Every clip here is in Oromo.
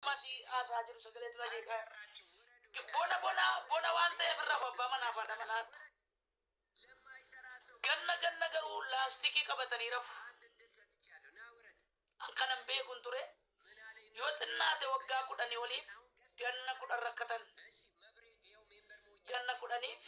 Masi haasaa jiru sagalee dura jeeqaa. Bona bona bona waan ta'eef irra abbaa manaa fi haadha manaa. Ganna ganna garuu laastikii qabatanii rafu. An kanan beekun ture yoo xinnaate waggaa kudhanii oliif ganna kudhan rakkatan. Ganna kudhaniif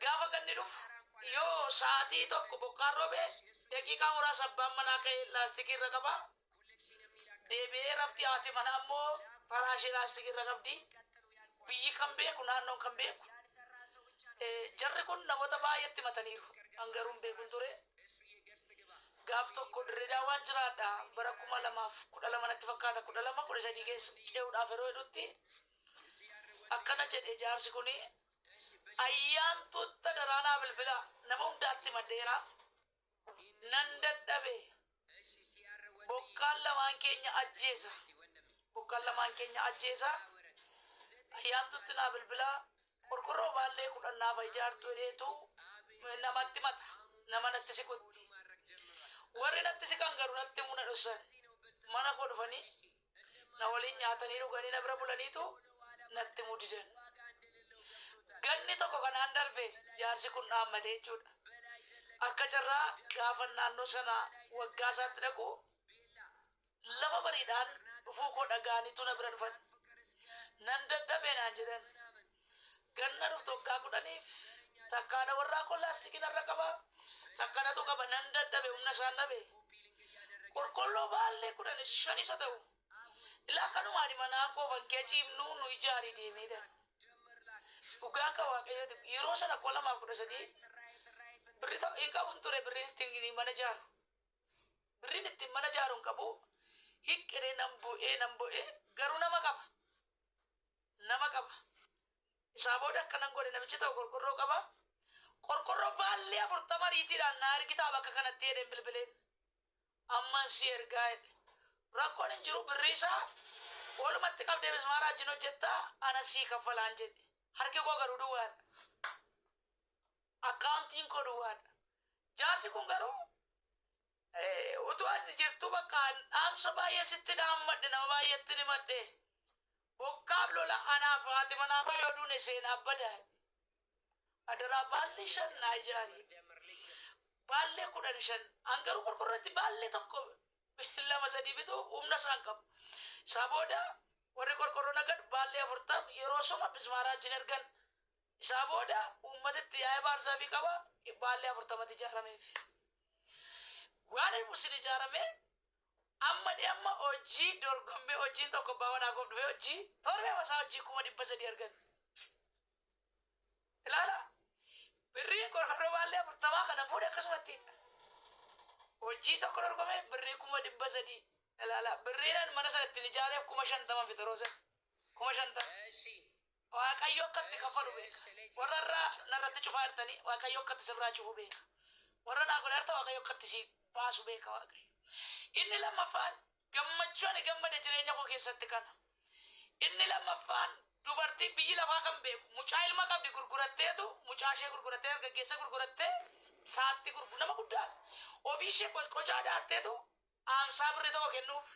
Gaafa ganni dhufu yoo sa'aatii tokko bokkaan roobe daqiiqaa muraasa abbaan manaa ka'ee laastikii irra qaba. Deebi'ee rafti haati manaa immoo faraashii laastikii irra qabdi. Biyyi kan beeku naannoon kan beeku. Eh, Jarri kun namoota baay'eetti himataniiru. An garuu hin beekun ture. Gaaf tokko Dirree Daawaan jiraadha. Bara kuma lamaaf kudha lama natti fakkaata. Kudha lama kudha sadii keessa ce'uudhaaf yeroo jedhutti akkana jedhe jaarsi kun ayyaantuutta daraanaa bilbila nama hundaatti maddeera nan dadhabe bokkaan lamaan keenya ajjeesa bokkaan lamaan keenya ajjeesa ayyaantuutti naa bilbila qorqorroo baallee kudhan naaf ijaartu jedheetu namatti mata nama natti siqutti warri natti siqan garuu natti muna dhossan mana koo dhufanii Na waliin nyaatanii dhuganii na bira bulaniitu natti himuu didan. Ganni tokko kanaan darbe jaarsi kun dhaammate jechuudha. Akka carraa gaafan naannoo sana waggaa isaatti dhaqu lafa bariidhaan dhufuu koo dhaga'aniitu na bira dhufan. Nan dadhabe naan jedhan. Ganna dhuftu waggaa kudhaniif takka haadha warraa koo laastikii narra qaba, takka natu qaba, nan dadhabe, humna isaan dhabe. Qorqolloo baallee kudhanis shan isa ta'u. Ilaa kanumaani manaa koo fankee ciibnuu nu ijaarii deemee jedhan. Dhugaan kan waaqayyooti yeroo sana kuma lamaaf kudha sadii birri ta'u hin qabu ture birriin ittiin mana ijaaru. Birriin ittiin mana ijaaru hin qabu hiqqinee nan bu'ee nan bu'ee garuu nama qaba. nama qaba. Isaa booda akkanan godhe namichi ta'u qorqorroo qaba. Qorqorroo baallee afurtama riitiidhaan naa ergitaa bakka kanatti jedheen bilbileen. Amman si ergaa jedhe. Rakkoon hin jiru birrii isaa walumatti qabdee mismaaraa wajjin hojjetta ana sii kaffalaan jedhe. Harki koo garuu duwwaadha. Akkaawuntiin koo duwwaadha. Jaarsi kun garuu Utuu ati jirtuu bakka an dhaamsa baay'ee sitti dhaammadhe nama baay'eettin himadhe. Bokkaaf lola anaaf haati manaa koo yoo duune seenaa bada. Adaraa baallee shan naa ijaari. Baallee kudhan shan an garuu qorqorratti baallee tokko lama sadii bituu humna isaan qabu. Isaa booda warri qorqorroo nagad baallee afurtam yeroo suma bismaaraa achiin ergan Isaa booda uummatitti yaa'ee baarzaafii qaba baallee afurtamatti ijaarameef. Waani sun ijaaramee amma dhi'amma hojii dorgommee hojiin tokko abbaa manaa koof dhufee hojii torbee masaa hojii kuma dhibba sadii argate. Ilaala birriin qorqorroo baallee afurtamaa kana fuudhe akkasumatti hojii tokko dorgomee birrii kuma dhibba sadii ilaala birriinan mana sana ittiin ijaareef kuma shantaman fixaroo sana kuma shantama. Eshi. Waaqayyo akka itti kaffalu beeka. Warra har'a narratti cufaa jirtanii Waaqayyo akka itti sirraa cufu beeka. Warra naa godhaa jirtan Waaqayyo akka itti si baasu beeka Waaqayyo. Inni lammaffaan gammachuu ani gammade jireenya koo keessatti kana. Inni lammaffaan dubartii biyyi lafaa kan beeku mucaa ilma qabdi gurguratteetu mucaa ishee gurgurattee dargaggeessa gurgurattee saatti gurgu nama guddaadha. Ofii ishee qocqocaa daatteetu aamsaa birrii tokko kennuuf.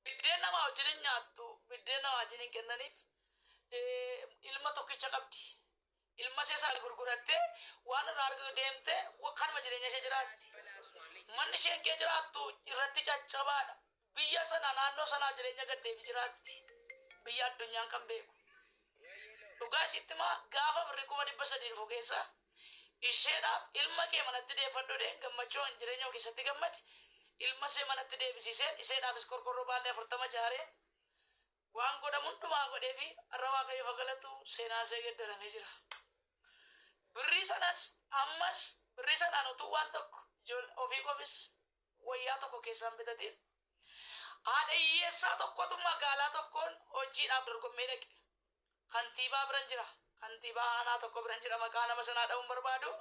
biddeen namaa wajjin hin nyaattu biddeen namaa wajjin hin kennaniif ilma tokkicha qabdi ilma ishee sana gurgurattee waan irraa argatu deemte kanuma jireenya ishee jiraatti manni isheen kee jiraattu irratti caccabaadha biyya sana naannoo sanaa jireenya gaddeebi jiraatti biyya addunyaan kan beeku dhugaa isitti maa gaafa birri kuma dhibba sadii dhufu keessa Isheedhaaf, Ilma kee manatti deeffadhu jedheen, gammachuuhaan jireenya koo keessatti gammadi. Ilma ishee manatti deebisiiseen, isheedhaafis qorqorroo baal'ee afurtama ijaareen, waan godhamu hundumaa godheefii, har'a Waaqayyoof haa galatu, seenaan ishee geddaramee jira. Birrii sanas, ammas, birrii sanaan utuu waan tokko, ijoollee, ofii koofis wayyaa tokko keessaa hin bitatiin, Haadha hiyyeessaa tokkotu magaalaa tokkoon hojiidhaaf dorgommee dhaqe. Kantiibaa biran jira. Kantiibaa aanaa tokko biran jira. Maqaa nama sanaa dha'uu hin barbaadu.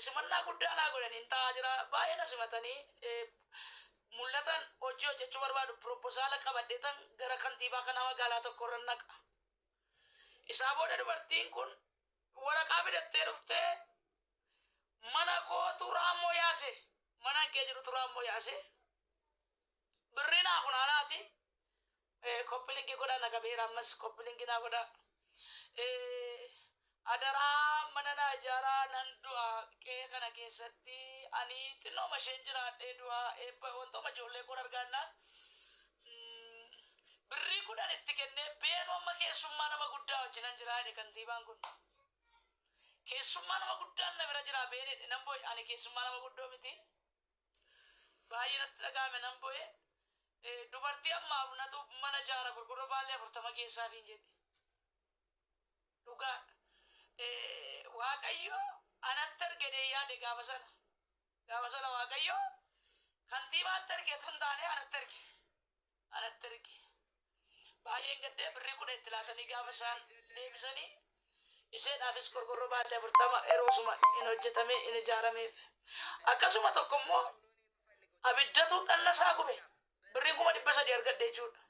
Simannaa guddaa naa godhaniin taa'aa jira. Baay'ee na simatanii mul'atan hojii hojjechuu barbaadu. Piropozaala qabadheetan gara kantiibaa kanaa magaalaa tokko irra naqa. Isaa booda dubartiin kun waraqaa fidattee dhuftee mana kootu raammoo yaase manan kee jedhutu raammoo yaase birrii naa funaanaati eh, koppilingi godha na qabeera ammas koppilingi naa godha Eh, adaraa mana naa ijaaraa nan du'a qe'ee kana keessatti ani xinnooma isheen jiraadhee du'a eebba wantooma ijoollee koon argaannaan mm, birrii kudhan itti kennee beenuu amma keessummaa nama guddaa wajjinan jiraa jedhe kantiibaan kun Keessummaa nama guddaan na bira jira been jedhe nan boye ani keessummaa nama guddoo miti baay'ee natti dhaga'ame nan boye dubartii ammaaf natu mana jaara gurgurra baallee afurtama geessaafiin jedhe dhugaa waaqayyo anatti argedee yaade gaafa sana gaafa sana waaqayyo kantiibaatti argetu hin taane anatti arge anatti erge. Baay'een gaddee birrii kudha itti laatanii gaafa isaan deebisanii isheedhaafis qorqorroo baallee afurtama yeroosuma hin hojjetamee hin ijaarameef. Akkasuma tokko immoo abiddatu dhanna isaa gube birriin kuma dhibba sadii argadhe jechuudha.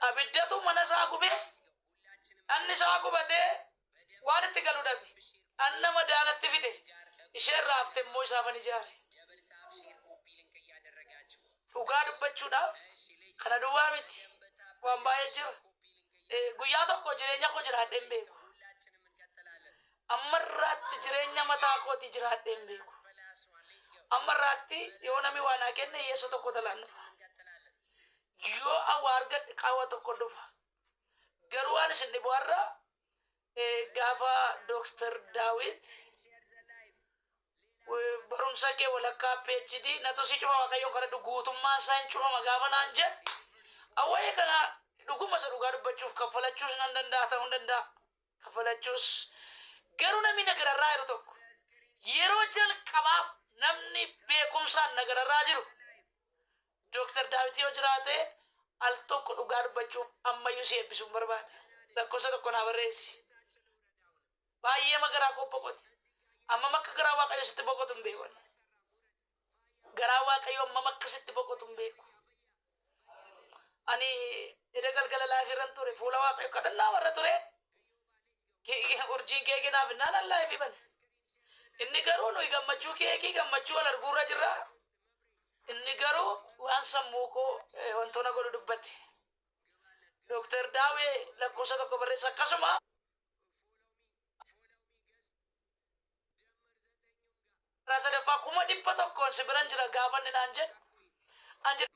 Abiddatu mana isaa gube Dhanni isaa gubatee waan itti galu dhabe. Dhanna madaa natti fide, ishee irraa hafte immoo isaafan ijaare. Dhugaa dubbachuudhaaf kana duwwaa miti, waan baay'ee jira. Guyyaa tokko jireenya koo jiraadhee hin beeku. Amma irraatti jireenya mataa kootii jiraadhee hin beeku. Amma irraatti yoo namni waa naa kenne hiyyeessa tokko talaan dhufa. Yoo awwaa argadhe qaawwa tokko dhufa. Garuu waan isin dhibu har'a gaafa Dooktar Daawit barumsa kee walakkaa PhD natu si cufa waaqayyoon kadhadhu guutummaan isaa hin cufama gaafa naan jedhe awwayee kana dhuguma isa dhugaa dubbachuuf kaffalachuus nan danda'a ta'uu hin danda'a. kafalachuus garuu namni na gararraa jiru tokko yeroo jalqabaaf namni beekumsaan na gararraa jiru Dooktar Daawit yoo jiraate al tokko dhugaa dubbachuuf ammayyuu si eebbisuun barbaada. Lakkoofsa tokko naa barreessi. Baay'ee magaraa koo boqote. Amma makka garaa waaqayyo sitti boqotu hin beekan. garaa waaqayyoo ammam akka sitti boqotu hin beeku. Ani eda galgala laayif irran ture fuula waaqayyo kadhannaa warra ture urjiin keekii naaf innaan an laayif bane. Inni garuu nuyi gammachuu keekii gammachuu wal arguurra jirra. Inni garuu waan sammuu koo eh, wantoota godhu dubbate. Dooktar Daawee lakkoofsa tokko barreessa akkasuma Jaarraa sadaffaa kuma dhibba tokkoon si biran jira gaafa inni naan jedhe, an jedhe.